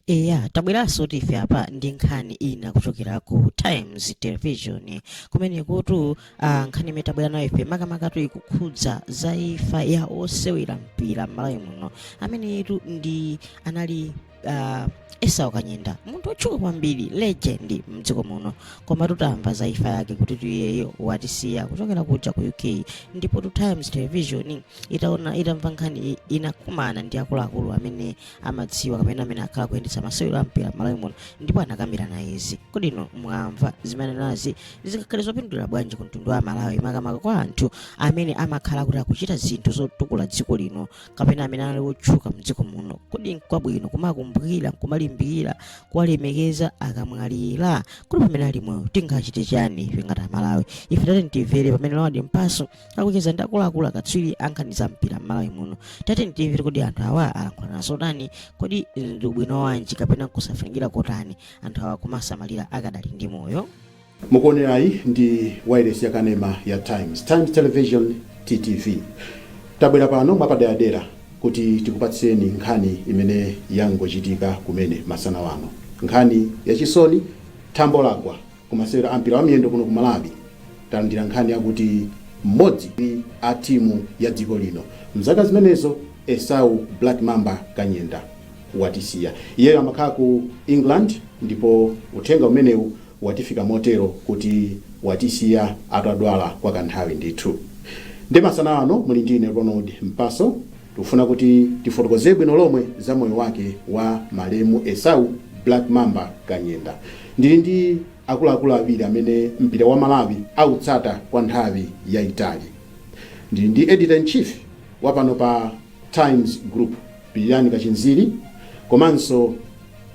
eya tabweranso ndife apa ndi nkhani ina kuchokera ku times television kumenekutu ah, nkhani imene tabwera nayo ife makamakatu ikukhudza za imfa ya osewera mpira m'malawi muno ameneyutu ndi anali uh, esau kanyenda munthu otchuka kwambiri legend mdziko muno koma tutamva za imfa yake kutitu iyeyo watisiya kuchokera kuja ku uk ndipotu times television itaona itamva nkhani iyi, inakumana ndi akuluakulu amene amadziwa kapena amene akhala akuyendetsa masewero a mpira m'malawi muno ndipo anakambirana izi kodi inu mwamva zimenezi zingakhale zopindulira bwanji ku mtundu wa malawi makamaka kwa anthu amene amakhala kuti akuchita zinthu zotukula dziko lino kapena amene ali otchuka mdziko muno kodi nkwabwino kumakumbukira kumalimbikira kuwalemekeza akamwalira kodi pamene ali moyo tingachite chani ife ngati amalawi ife tatini timvere pamene ronald mpaso akucheza ndi akuluakulu akatswiri ankhani za mpira mmalawi muno tatini timvere kodi anthu awa alankhulana zotani kodi ndi ubwino wanji kapena kusafunikira kotani anthu awa kumasamalira akadali ndi moyo Mukuonerayi ndi wailesi ya kanema ya Times, Times Television, TTV. Tabwera pano mwapaderadera kuti tikupatsireni nkhani imene yangochitika kumene masana wano. Nkhani ya chisoni, thambo lagwa ku masewero a mpira wa miyendo kuno ku Malawi. Talandira nkhani yakuti mmodzi mwa a timu ya dziko lino mzaka zimenezo Esau Black Mamba Kanyenda watisiya. Iyeyo amakhala ku England ndipo uthenga umenewu watifika motero kuti watisiya atadwala kwa kanthawi ndithu. Nde masana ano muli ndi ine Ronald Mpaso, tikufuna kuti tifotokozee bwino lomwe za moyo wake wa malemu Esau Black Mamba Kanyenda. Ndili ndi akuluakulu awiri amene mpira wa Malawi autsata kwa nthawi yaitali. Ndili ndi Editor in Chief wa pano pa. Times Group, Pilirani Kachinziri komanso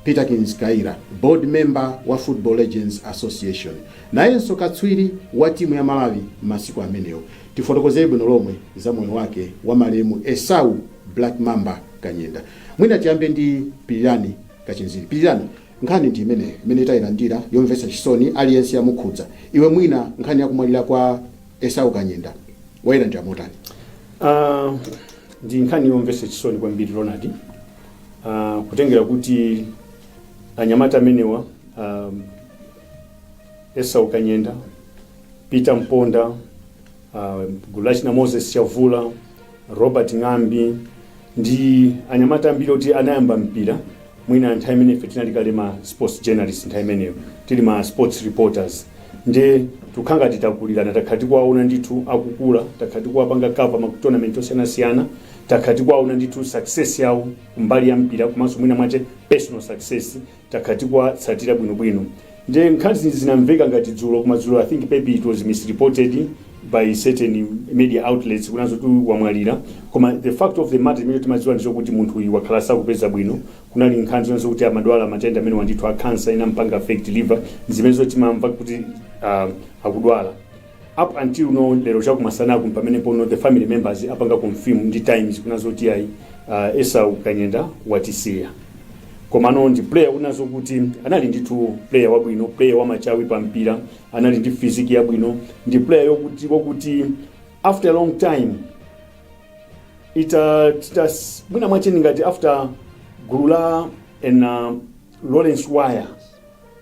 Peterkins Kaira, Board Member wa Football Legends Association, nayenso katswiri wa timu ya Malawi masiku amenewo. Tifotokozere bwino lomwe za moyo wake wa malemu Esau Black Mamba Kanyenda. Mwina tiyambe ndi Pilirani Kachinziri. Pilirani, nkhani ndi imeneyo imene tayilandira yomvetsa chisoni, aliyense yamukhudza. Iwe mwina nkhani ya kumwalira kwa esau kanyenda wayilandira motani Ah, ndi nkhani yomvetsa chisoni kwambiri ronald Ah, kutengera kuti anyamata amenewa ah, esau kanyenda peter mponda ah, gulachina moses chavula Robert Ng'ambi ndi anyamata ambiri oti anayamba mpira mwina nthawi imene ife tinali kale ma sports journalist nthawi imeneyo tili ma sports reporters nde tikhala ngati takulirana takhala tikuwaona ndithu akukula takhala tikuwapanga cover ma tournament osiyanasiyana takhala tikuwaona ndithu success yawo kumbali ya mpira komanso mwina mwache personal success takhala tikuwatsatira bwino bwino nde nkhani zinamveka ngati dzulo koma dzulo i think maybe it was misreported by certain media outlets kunena zoti uyu wamwalira koma the fact of the matter imene timadziwa ndi chokuti munthu uyu wakhala sakupeza bwino kunali nkhani zonse kuti amadwala matenda amenewa ndithu a cancer inampanga affect liver zimenezo timamva kuti uh, akudwala Up until now lero chakumasanaku mpamenepo no the family members apanga confirm ndi times kunena zoti ayi uh, Esau Kanyenda watisiya komano ndi player kunena zokuti anali ndithu player wabwino player wamachawi pa mpira anali ndi physique yabwino ndi player wokuti wakuti after a long time ita tita mwina mwache ngati after gulu la ena Lawrence Waya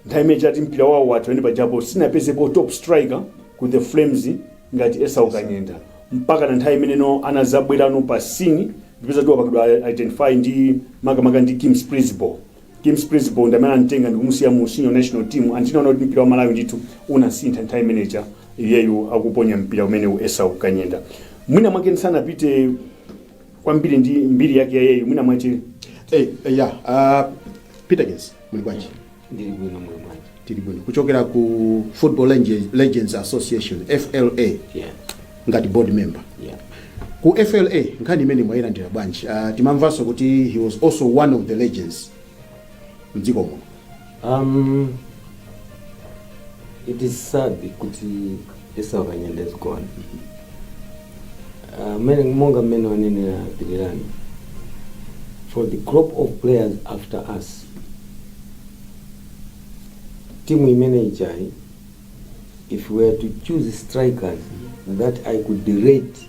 nthawi imene takhala kuti mpira wawo watha pamene pajapo sinapezepo top striker ku the flames ngati esau kanyenda mpaka na nthawi imene no anazabwerano pa scene ndi pamene anapangidwa identify ndi makamaka ndi kim splidsboel kim splidsboel ndi amene anamutenga ndikumusiya mu senior national team and tinaona kuti mpira wa malawi ndithu unasintha nthawi imeneja iyeyu akuponya mpira umenewu esau kanyenda mwina mwake ndisanapite kwambiri ndi mbiri yake ya iyeyu mwina mwache Eh, eh, yeah, uh, Peterkins. muli bwanji ndili bwino muli bwanji tili bwino kuchokera ku football Lege- legends association fla yeah ngati board member yeah ku fla nkhani imeneyi mwayilandira bwanji uh, timamvanso kuti he was also one of the legends mdziko muno um it is sad kuti Isaka Nyendezi gone. Ah, mene, monga mmene wanenera Pilirani for the crop of players after us timu imene ijayi if we were to choose strikers that I could rate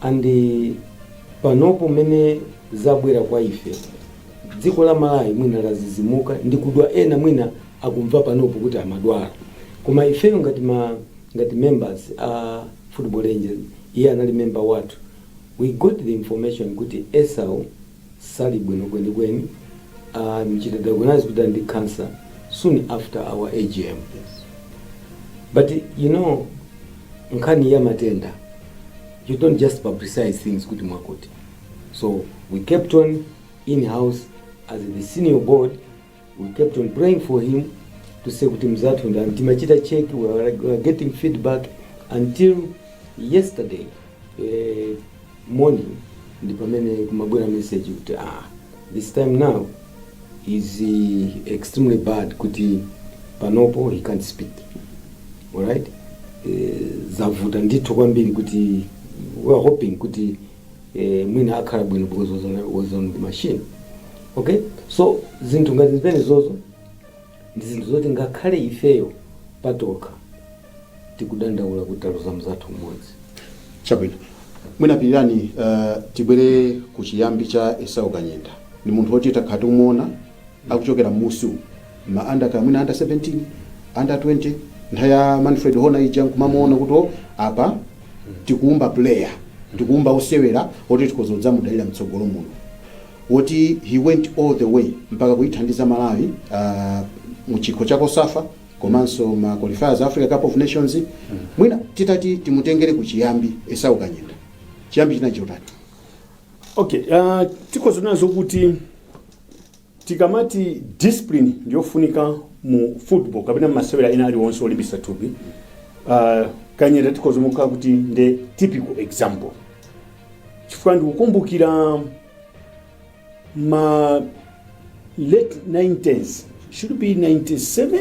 and panopo mmene zabwera kwa ife dziko la malawi mwina ladzidzimuka ndi kudwala ena mwina akumva panopo kuti amadwala koma ifeyo ngati ma ngati members a football legends iye anali member wathu we got the information kuti esau sali bwino kwenikweni amuchita diagnose kuti ali ndi cancer soon after our AGM but you know nkhani ya matenda you don't just publicize things kuti mwakuti so we kept it in house as the senior board We kept on praying for him to say kuti mzathu and timachita check we were, we were getting feedback until yesterday eh, morning ndi pamene kumabwera message kuti ah, this time now is eh, extremely bad kuti panopo he can't speak alright eh, zavuta ndithu kwambiri kuti we are hoping kuti eh, mwina akhala bwino because was on, was on the machine okay so zinthu ngati zimenezozo ndi zinthu zoti ngakhale ifeyo patokha tikudandaula kuti taluza mzathu mmodzi chabwino mwina pilirani uh, tibwere ku chiyambi cha esau kanyenda ndi munthu woti takhala tikumuona akuchokera mmusi umu ma under kaya mwina under 17 under 20 nthawi ya manfred hona ija nkumamuona kuti o apa tikuumba player tikuumba osewera oti tikhoza kudzamudalira mtsogolo muno woti he went all the way mpaka kuyithandiza malawi uh, mu chikho cha cosafa komanso ma qualifiers a africa cup of nations mwina titati timutengere kuchiyambi esau kanyenda chiyambi chinali chotani okay uh, tikhoza kunena zokuti Tikamati discipline ndiyofunika mu football kapena mmasewera ena aliwonse olimbisa thupi uh, kanyenda tikhoza kumuika kuti nde typical example chifukwa ndikukumbukira ma late 90s should be 97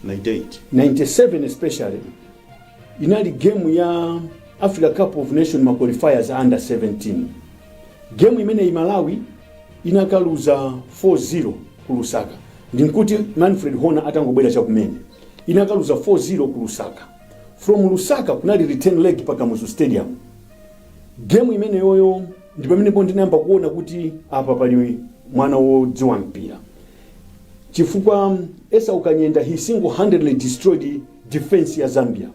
98 97 especially inali game ya africa cup of nations ma qualifiers a under 17 game imeneyi malawi inakaluza 4-0 ku lusaka ndinkuti manfred hona atangobwera chakumene inakaluza 4-0 ku lusaka from lusaka kunali return leg pa kamuzu stadium game imeneyoyo ndi pomwe ndinayamba kuona kuti apa pali mwana wodziwa mpira chifukwa esau kanyenda he single handedly destroyed defense ya zambia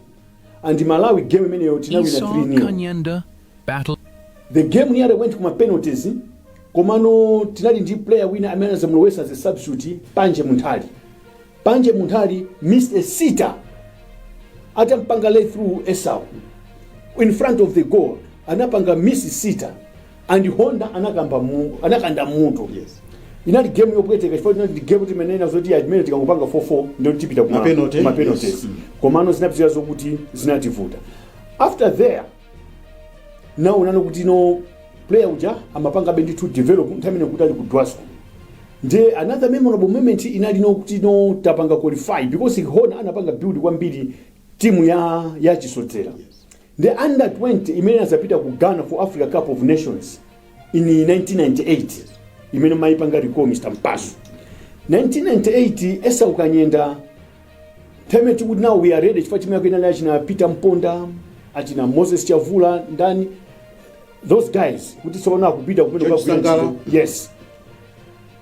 and malawi game imeneyo tinawina 3 nil but the game nearly went kuma penalties komano tinali ndi player wina amene anazamulowesa as a substitute panje munthali panje munthali missed a sitter atampanga lay through esau in front of the goal anapanga miss sitter and hona anakamba mu, anakanda mutu Yes. inali game yopweteka chifukwa inali game timanena zoti at least tikangopanga 4-4 ndiye tipita kuma- Mapenalty. kuma penalties. Yes. Mm. komano zinapitira zokuti zinativuta after there nawo unaona kuti no player uja amapangabe ndithu develop nthawi imene ali ku dwasco nde another memorable moment inali no kuti no tapanga qualify because hona anapanga build kwambiri timu ya ya chisodzera The under 20 imene inadzapita ku Ghana for Africa Cup of Nations in 1998 imene mmayipanga recall Mr. Mpasu. 1998 Esau Kanyenda time to know we are ready chifukwa timu yake inali achina Peter Mponda achina Moses Chavula ndani those guys kuti tsopano akupita kumene George Sangala. yes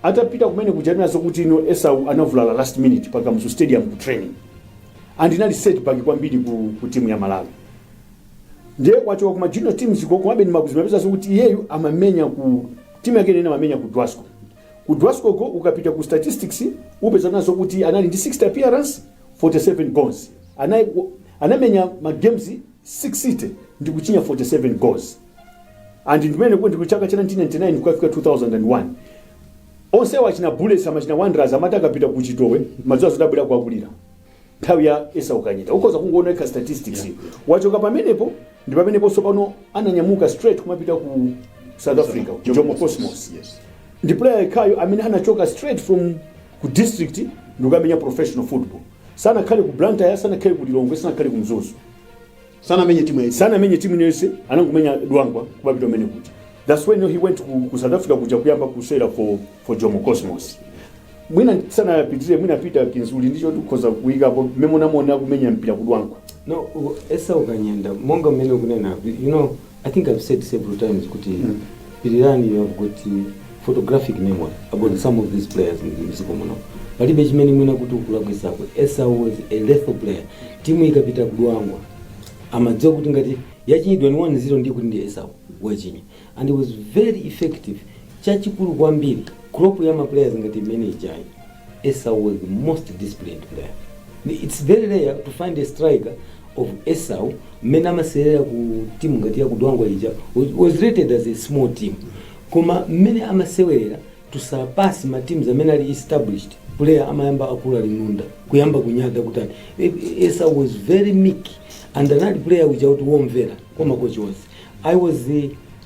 Atapita kumene kuja tinamva zokuti you know Esau anavulala last minute pa Kamuzu stadium ku training and inali set back kwambiri ku, ku team ya Malawi ndiye kuchoka kuma junior teams ko komabe ndimapeza zokuti iyeyu amamenya ku timu yake imene amamenya ku Dwasco ku Dwasco ko ukapita ku statistics upezanazo kuti anali ndi 60 appearance 47 goals anai anamenya ma games 60 ndi kuchinya 47 goals and ndimene kuti ku chaka cha 1999 kufika 2001 onsewo achina bullets amachina Wanderers amati akapita ku chitowe amadziwa zoti abwera kuwakulira nthawi ya Esau Kanyenda ukhoza kungoona ka statistics wachoka pamenepo ndi pamenepo sopano ananyamuka straight kumapita ku south africa ku jomo cosmos Yes. ndi player yekhayo amene anachoka straight from ku district ndikukamenya professional football sanakhale ku blantyre sanakhale ku lilongwe sanakhale ku mzuzu sanamenye timu yayi sanamenye timu iliyonse anangomenya dwangwa kupita kumene kuja that's when he went ku, ku south africa kuja kuyamba kusewera for, for jomo cosmos mwina asanapitire mwina peter kodi uli ndi choti ukhoza kuyikapo mmene unamuona akumenya mpira ku Dwangwa no u- Esau Kanyenda monga mmene ukunena you know I think I've said several times kuti Mm. Pirirani you have got uh, photographic memory about some of these players m'dziko muno. Palibe chimene mwina kuti ukulakwitsako. Esau was a lethal player. Timu ikapita ku Dwangwa. Amadziwa kuti ngati yachinyidwa ni 1-0 ndiye kuti ndi Esau wachinya. And he was very effective. Chachikulu kwambiri crop ya ma players ngati imene ijayi. Esau was the most disciplined player ni its very rare to find a striker of Esau mmene amasewerera ku team ngati ya ku Dwangwa ija was- was rated as a small team koma mmene amasewerera to surpass ma teams amene ali established player amayamba kukula linunda kuyamba kunyada kutani E- e- Esau was very meek and anali player uja kuti womvera kwa makochi onse I was the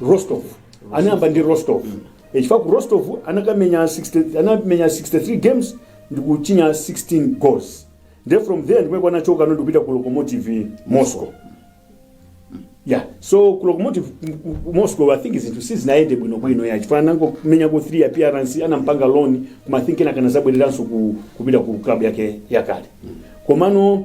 rostov anayamba ndi rostov Eh, chifukwa ku rostov anakamenya 60 anamenya 63 games ndi kuchinya 16 goals nde from there ndi mmene anachoka no ndikupita ku Lokomotiv Moscow yeah so ku Lokomotiv ku- ku moscow i think zinthu sizinayende bwinobwino ya chifukwa anangomenyako 3 appearance anampanga loan koma i think anakadzabwereranso ku- kupita ku club yake yakale komano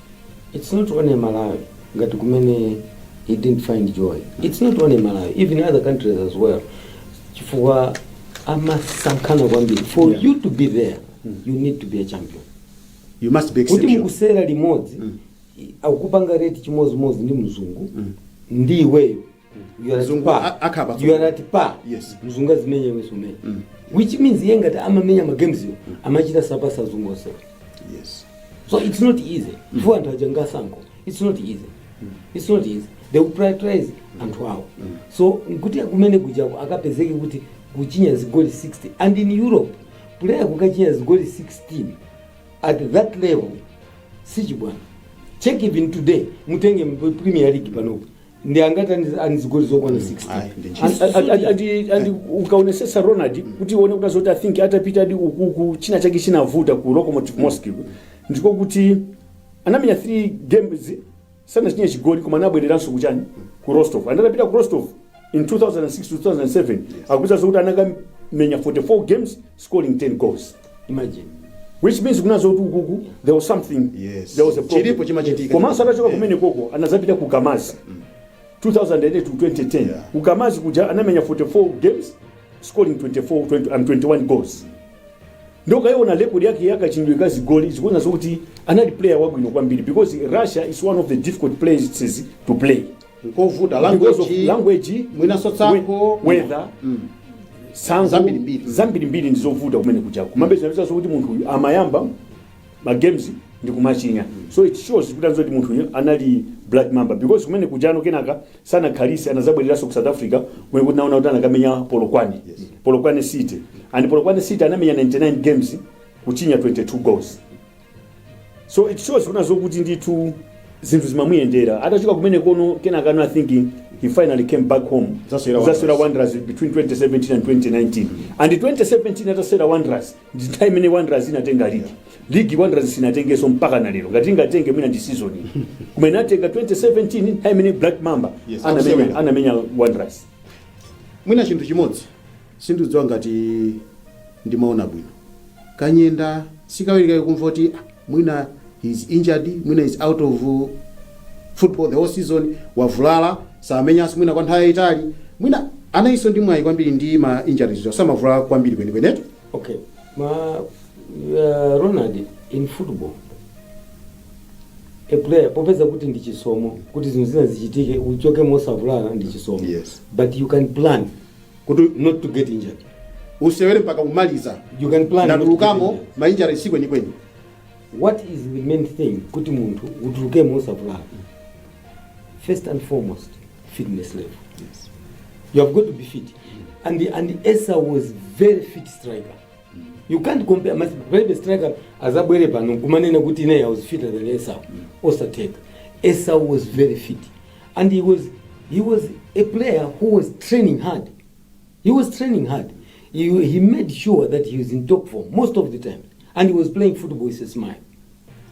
Its not only Malawi ngati kumene he didn't find joy its not only Malawi even in other countries as well chifukwa amasankhana kwambiri for Yeah. you to be there you need to be a champion you must be kuti exceptional mukusewera limodzi akupanga rate chimodzimodzi ndi mzungu ndi iweyo You are not Mzungu pa. a- akhala pa You are not pa. Yes. Mzungu azimenya iwe sumenya. Which means iye ngati amamenya ma games yo amachita sapasa azungu onse. yes So it's not easy. Chifukwa anthu aja ngasankho. It's not easy. It's not easy. They will prioritize anthu awo. So kuti kumene kujako akapezeke kuti kuchinya zigoli 16 and in Europe player kukachinya zigoli 16 at that level sichibwana. Check even today mutenge mu Premier League panopo. ndi angati ali ndi zigoli zokwana 16 ayi, ndi ntchito. Andi- andi- andi- andi- andi ukaonesesa ronald kuti uone kuti azoti I think atapita adi ukuku china chake chinavuta ku lokomotiv moscow ndiko kuti anamenya 3 games sanachinye chigoli koma anabwereranso kuchani ku rostov and atapita ku rostov in 2006 2007 akupeza zokuti anakamenya 44 games scoring 10 goals imagine which means kuna zokuti ukuku there was something Yes. there was a problem. Chilipo chimachitika. komanso atachoka Yeah. kumene koko anazapita ku kamazi 2008 to 2010 Yeah. ku kamazi kuja anamenya 44 games scoring 24 20, and 21 goals ndiye ukaiona record yake yakachinyidwe ka zigoli zikuona zokuti anali player wabwino kwambiri because russia is one of the difficult places to play nkovuta because of language language mwinanso we- tsankho weather Mm. tsankho Zambirimbiri. zambirimbiri ndi zovuta kumene kuja komabe zinapezanso kuti munthu uyu amayamba ma games ndi kumachinya so it shows kuti anzoti munthu uyu anali black mamba because kumene kuja kenaka sanakhalise anazabwereranso ku south africa kumene kuti naona kuti anakamenya polokwane polokwane city and polokwane city anamenya 99 games kuchinya 22 goals so it shows kuna zokuti ndithu zinthu zimamuyendera atachoka kumene kono kenaka ano i think he finally came back home Nzasewera nzasewera wanderers between 2017 and 2019 and 2017 atasewera wanderers ndi nthawi imene wanderers inatenga ligi ligi wanderers sinatengeso mpaka na lero ngati ingatenge mwina ndi season iyi. koma inatenga 2017 nthawi imene black mamba Yes, anamenya absolutely. anamenya wanderers mwina chinthu chimodzi Sindikudziwa ngati ndimaona bwino. Kanyenda sikawirikawi kumva kuti "Ah, mwina he is injured, mwina he is out of uh, football the whole season, wavulala samenyanso mwina kwa nthawi yayitali, mwina anayinso ndi mwayi kwambiri ndi ma injuries, so, samavulala kwambiri kwenikwenetu. Okay. Ma uh, Ronald in football a player upeza kuti ndi chisomo kuti zinthu zina zichitike uchoke mosavulala ndi chisomo Yes. but you can plan kuti not to get injured usewere mpaka umaliza You can plan not to ndatulukamo get injured. mainjari si kwenikweni what is the main thing kuti munthu utulukemo usavulala first and foremost fitness level you have got to be fit and the, and the esa was very fit striker you can't compare mas- palibe striker azabwere pano kumanena kuti ine i was fitter than esa osatheka esa was very fit and he was he was a player who was training hard he was training hard he, he made sure that he was in top form most of the time and he was playing football with a smile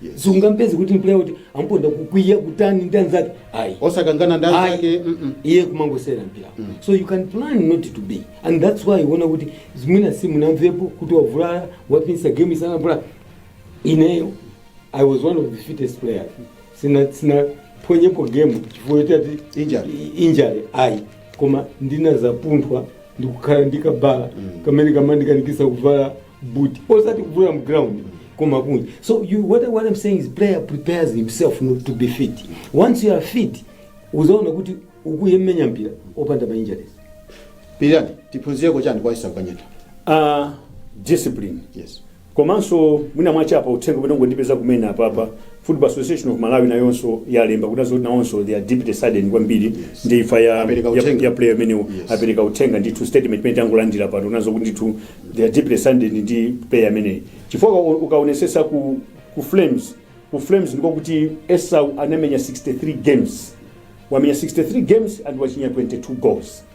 Yes. sungampeze kuti mplayer kuti amponda kukwiya kutani ndi anzake ayi osakangana ndi Ayi. anzake mm-mm. iye kumangosewera mpira so you can plan not to be and that's why uona kuti zimwina si munamvepo kuti wavulala wapinsa game sanavulale ineyo i was one of the fittest players sina sinaphonyepo game chifukwa choti ati Injury. i- injury ayi koma ndinazapunthwa ndikukhala ndikabala kamene kamandikanikisa kuvala boot osati kuvula mu ground koma kunja so you, what, I- what i'm saying is player prepares himself not to be fit once you are fit uzaona kuti ukuyemenya mpira opanda ma injuries Pirirani, tiphunzireko chani kwa Esau Kanyenda? uh, discipline Yes. Komanso mwina mwache apa uthenga umene wangondipeza kumene apapa Football Association of Malawi nayonso yalemba kunena zoti nawonso they are deeply saddened kwambiri yes. ndi imfa ya, Apereka ya, uthenga. ya player amenewo Yes. apereka uthenga ndithu statement imene tangolandira pano nazo kuti ndithu they are deeply saddened ndi player ameneyi chifukwa uka- ukaonesesa ku, ku flames ku flames ndiko kuti esau anamenya 63 games wamenya 63 games and wachinya 22 goals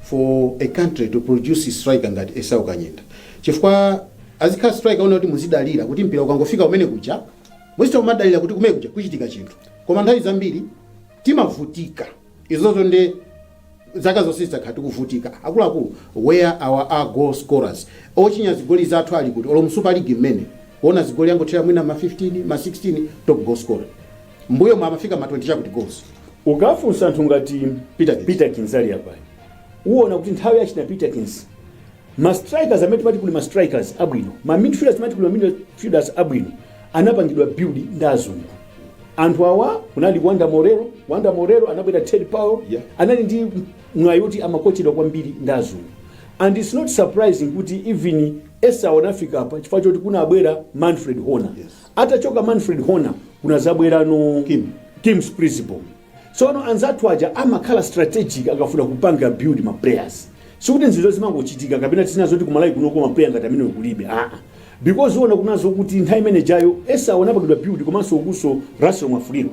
for a country to produce striker ngati Esau Kanyenda chifukwa azikhala striker woti muzidalira kuti mpira ukangofika kumene kuja muzitha kumadalira kuti kumene kuja kuchitika chinthu koma nthawi zambiri timavutika izozo nde zaka zonse takhala tikuvutika akuluakulu where are our goal scorers ochinya zigoli zathu ali kuti olo mu super league mmene kuona zigoli angothera mwina ma 15 ma 16 top goal scorer M'mbuyomu amafika ma 20 chakuti goals. Ukafunsa anthu ngati Peterkins. Peterkins ali apayu, uwona kuti nthawi ya achina Peterkins ma strikers amene timati kuli ma strikers abwino, ma midfielders timati kuli ma midfielders abwino anapangidwa build ndi azungu. Anthu awa kunali Wonder Morero, Wonder Morero anabwera Ted Powell, Yeah. anali ndi mwayi oti amakochedwa kwambiri ndi azungu. And it's not surprising kuti even Esau anafika apa chifukwa choti kunabwera Manfred Horner. Yes. Atachoka Manfred Horner kunazabweranso Kim. Kim Splidsboel. Tsono anzathu aja amakhala strategic akafuna kupanga build ma players. Sikuti nzizo zimangochitika kapena tizinena zoti ku Malawi kunoko ma player ngati amenewo kulibe. Ah ah. Because uona kunena zoti nthawi imene ijayo Esau anapangidwa build komanso ukunso Russell Mwafulirwa.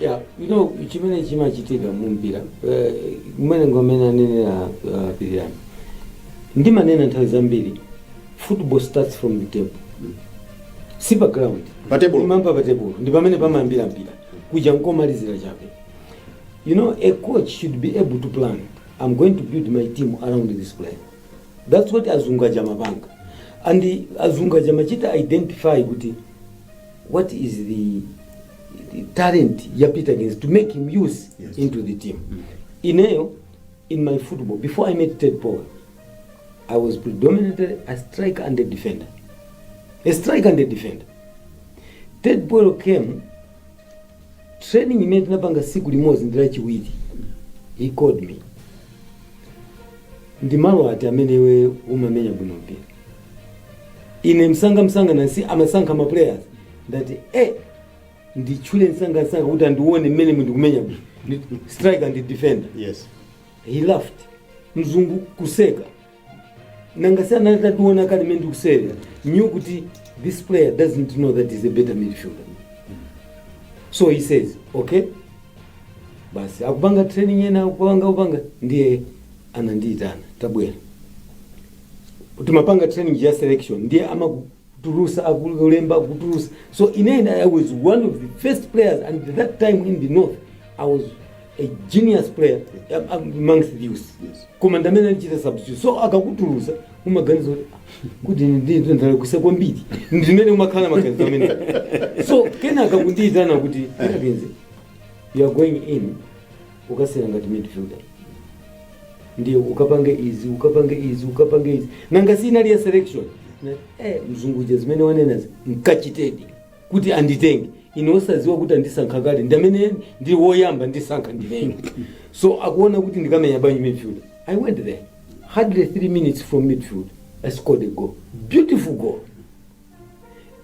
Yeah, you know chimene chimachitika mu mpira eh, mmene ngam'mene anenera uh, pirirani ndimanena nthawi zambiri football starts from the table si pa ground Pa table. Imayamba pa table ndi pamene pamayambira mpira kuja nkomalizira chabe you know a coach should be able to plan i'm going to build my team around this player that's what azungu aja amapanga and azungu aja amachita identify kuti what is the talent ya Peterkins to make him use yes. into the team mm -hmm. ineyo in my football before I met Ted Powell I was predominantly a striker and a defender a striker and a defender Ted Powell came training imene tinapanga siku limodzi ndi lachiwiri he called me ndi malo ati amene iwe umamenya bwino mpira ine msanga msanga nasi amasankha ma players ndati eh nditchule msangasanga kuti andione mmene ndikumenyera bwino Ndi- striker ndi defender yes he laughed mzungu kuseka nanga si anali atationa kale mmene ndikuseka knew kuti this player doesn't know that he's a better midfielder so he says okay basi tikupanga training yena akupanga kupanga ndiye anandiyitana tabwera timapanga training ya selection ndiye amaku- kutulutsa akulemba akutulutsa so in the end i was one of the first players and that time in the north i was a genius player am- am- amongst the youth Yes. koma nde amene anachita substitute so akakutulutsa umaganiza kuti "Ah, kuti ndinthu ndalakwitsa kwambiri ndimene umakhala maganizo amenewo so kenaka akundiyitana kuti "Kenakwenze, you are going in ukasewera ngati midfielder ndiye ukapange izi ukapange izi ukapange izi nanga si inali ya selection Na- eh, mzunguja zimene wanenazi nkachitedi kuti anditenge ine osadziwa kuti andisankha kale ndi amene ndi woyamba kusankha ndine so akaone kuti ndikamenya bwanji midfield i went there hardly three minutes from midfield i scored a goal beautiful goal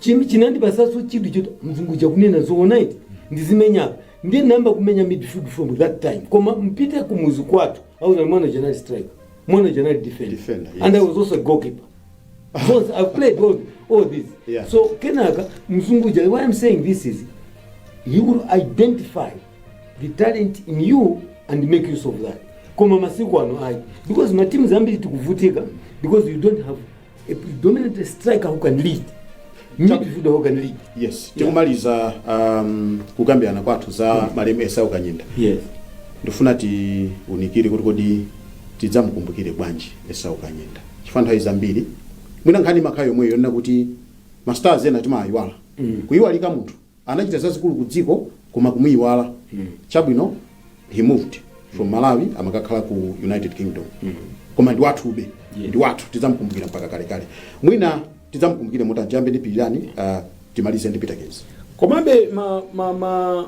Chim- chinandipatsanso chidwi choti mzungu uja akunena zoona eti ndizimenya ndiye ndayamba kumenya midfield from that time koma mupite kumudzi kwathu akuuzani mwana uja anali striker mwana uja anali defender, Defender, yes. and i was also a goalkeeper Because I've played all, all this. Yeah. So Kenaka, Mzungu uja, why I'm saying this is he will identify the talent in you and make use of that. Koma masiku ano ayi. Because matimu ambiri tikuvutika because you don't have a predominant striker who can lead, midfielder who can lead. yes tikumaliza um, kukambirana kwathu za malemu esau kanyenda Yes. ndifuna tiunikire kuti kodi tidzamukumbukire bwanji esau kanyenda chifukwa nthawi zambiri mwina nkhani imakhala yomweyo yonena kuti mastars ena timawayiwala kuyiwalika munthu Anachita zazikulu ku dziko koma kumuyiwala chabwino he moved from Malawi amakakhala ku United Kingdom koma ndi wathube ndi wathu tidzamukumbukira mpaka kalekale mwina tidzamukumbukire motani tiyambe ndi pilirani uh, timalize ndi Peterkins komabe ma ma ma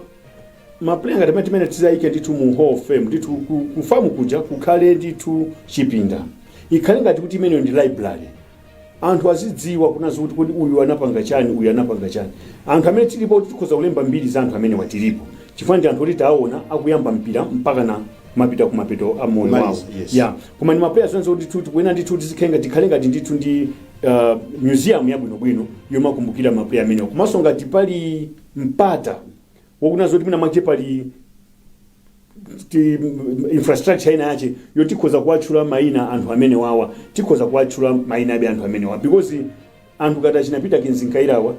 mapuleya ngati amenewa tidzawayike ndithu mu hall of fame ndithu ku- ku FAM kuja kukhale ndithu chipinda ikhale ngati kuti imeneyo ndi library anthu azidziwa kunazi kuti kodi uyu anapanga chani uyu anapanga chani anthu amene tilipo oti tikhoza kulemba mbiri za anthu amenewa tilipo chifukwa ndi anthu oti taona akuyamba mpira mpakana mapita kumapeto a moyo Kumaliza, wawo yes. ya koma ndi mapuleya onse kuti ndithu tikuyenera ndithu tizikhale ngati tikhale ngati ndithu ndi uh, museum yabwinobwino yomakumbukira mapuleya amenewa komanso ngati pali mpata wakunena zoti mwina mwache pali ti- m- infrastructure ina yache yo tikhoza kuwatchula maina anthu amene wawa tikhoza kuwatchula maina abe anthu amene wawa because anthu ngati achina Peterkins Kayirawa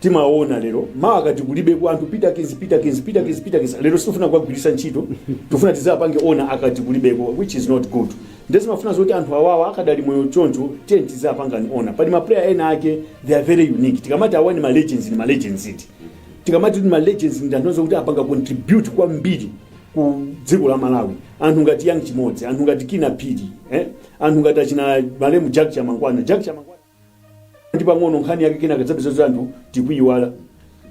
timaona lero mawa akati kulibeko anthu Peterkins Peterkins Peterkins Peterkins lero sitifuna kuwagwiritsa ntchito tifuna tizapange honour akati kulibeko which is not good nde zimafuna zoti anthu awawa akadali moyo choncho tiye tizapangani honour pali maplayer ena ake they are very unique tikamati awa ni ma legends ni ma legends iti tikamati kuti ma legends ndi anthu onse kuti apanga contribute kwambiri ku dziko la malawi anthu ngati Young Chimodzi anthu ngati Kinnah Phiri eh? anthu ngati achina malemu jack chamangwana jack chamangwana ndi pang'ono nkhani yake kenaka udzapeza kuti anthu tikuyiwala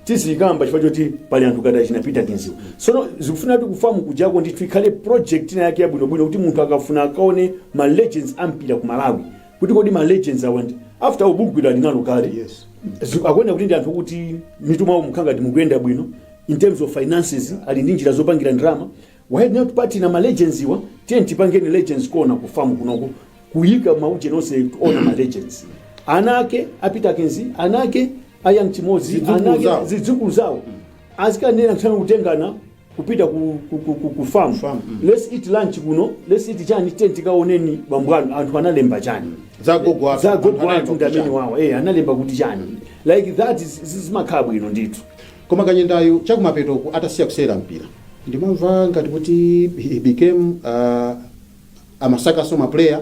tizikamba chifukwa choti pali anthu ngati achina Peterkins-wa sono zikufuna kuti ku farm kujako ndithu ikhale project ina yake yabwinobwino kuti munthu akafuna akaone ma legends a mpira ku malawi kuti kodi ma legends awa ndi after all bugwira ali nalo kale Yes. Zi- akuona kuti ndi anthu kuti mitu mwawo mukhala ngati mukuyenda bwino in terms of finances ali ndi njira zopangira ndalama why not partner ma legends awa tiye tipangeni legends corner ku farm kunoko kuyika maujeni onse ona ma legends ana ake a Peterkins ana ake a Young Chimodzi Zidzukulu ana ake zawo. zidzukulu zawo azikanena nthawi kutengana kupita ku, ku, ku, ku, ku farm, Farm, mm. let's eat lunch kuno let's eat chani tiye tikaoneni bambo anu anthu analemba chani Za gogo athu. za gogo Anthu analemba athu ndi kuti amene chani? wawa eh analemba kuti chani like that is- is- zimakhala bwino ndithu koma kanyendayo chakumapetoku atasiya kusewera mpira ndimamva ngati kuti he became uh, amasakaso maplayer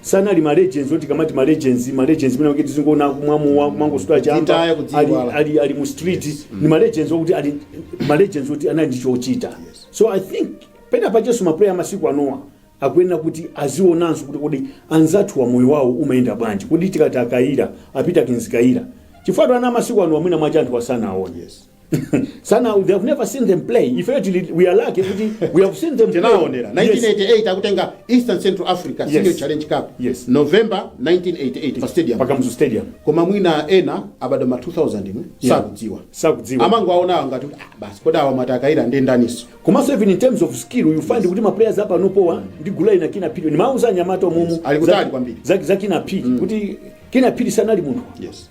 sanali ma legends oti tikamati ma legends ma legends mene kuti tizingoona kumwa mowa kumangosuta chamba Kudzitaya, ali, kudziiwala. ali, ali mu street ni ma legends okuti ali ma legends oti anali ndi chochita so i think penapacheso ma player masiku anowa akuyenera kuti azionanso kuti kodi anzathuwa moyo wawo umayenda bwanji kodi tikati a Kayira a Peterkins Kayira chifukwa ana masiku ano mwina mwache anthuwa sanawaone Yes. sana they have never seen them play ifeyo tili we are lucky kuti we have seen them play. tinaonera Yes. 1988 akutenga eastern central africa senior Yes. challenge cup Yes. november 1988 pa stadium pa Kamuzu stadium koma mwina ena abadwa ma 2000 mu Yeah. sakudziwa sakudziwa amangowaonawo ngati kuti, ah, basi kodi awa amati a Kayira ndi ndaniso komanso even in terms of skill you find kuti maplayers apanopowa ndi gulayi na Kinnah Phiri nimauza anyamata omumu Ali kutali kwambiri. za, za Kinnah Phiri kuti Kinnah Phiri sanali munthu yes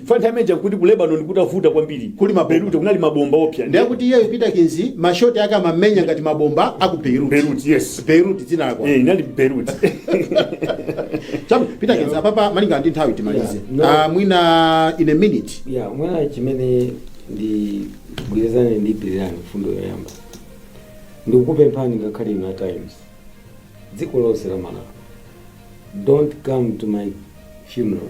Chifukwa nthawi imeneja nkuti ku Lebanon kutavuta kwambiri. Kuli mabomba. Beirut kunali mabomba oopsa. Ndiye kuti iyeyu Peterkins ma shot ake amamenya ngati mabomba a ku Beirut. Beirut, yes. Beirut dzina lako. Eh, inali Beirut. Chabu, Peterkins apapa malinga ndi nthawi timalize. Yeah, no. Ah, mwina in a minute. ya mwina chimene ndigwirizane ndi Pilirani mfundo yoyamba ndikukupemphani ngakhale inu Times dziko lonse la malawi don't come to my funeral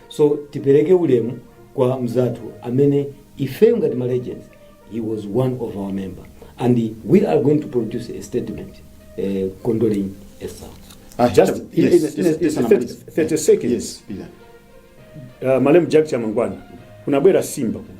So tipereke ulemu kwa mzathu amene ifeyo ngati ma legends he was one of our member and we are going to produce a statement uh, condoling Esau. Ah, Just Chabu, in- yes, in- yes, in- yes, in- Anamaliza. 30 seconds. Yes, Peter. uh, malemu Jack Chamangwana kunabwera Simba kuno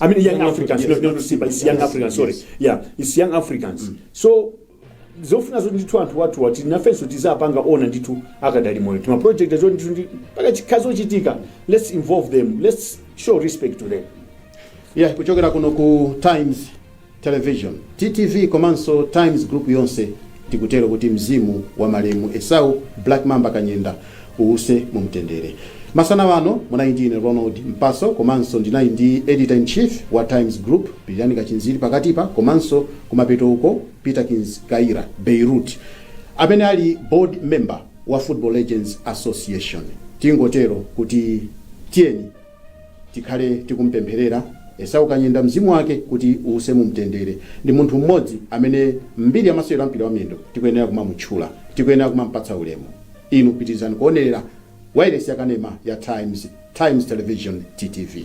I mean, young, Young Africans, Africans, not, not Simba, it's young Yes, Africans, sorry. yes. Yeah, it's young Africans. So, zofuna zoti ndithu anthu wathu oti nafenso tiziwapanga honour ndithu akadali moyo tima project zoti ndithu mpaka chikazochitika let's involve them let's show respect to them yeah kuchokera kuno ku times Television, TTV, komanso Times Group yonse tikutero kuti mzimu wa malemu Esau Black Mamba Kanyenda uwuse mumtendere. Masana wano munali ndi ine Ronald Mpaso komanso ndinali ndi Editor in Chief wa Times Group Pilirani Kachinjika pakatipa komanso kumapeto uko Peterkins Kayira, Beirut, amene ali Board Member wa Football Legends Association. Tingotero kuti tiyeni. Tikhale tikumupempherera Esau Kanyenda mzimu wake kuti uuse mu mtendere. Ndi munthu mmodzi amene m'mbiri ya masewero a mpira wa miyendo tikuyenera kumamutchula. Tikuyenera kumampatsa ulemu. Inu pitirizani kuonerera wailesi ya kanema ya Times, Times Television, TTV.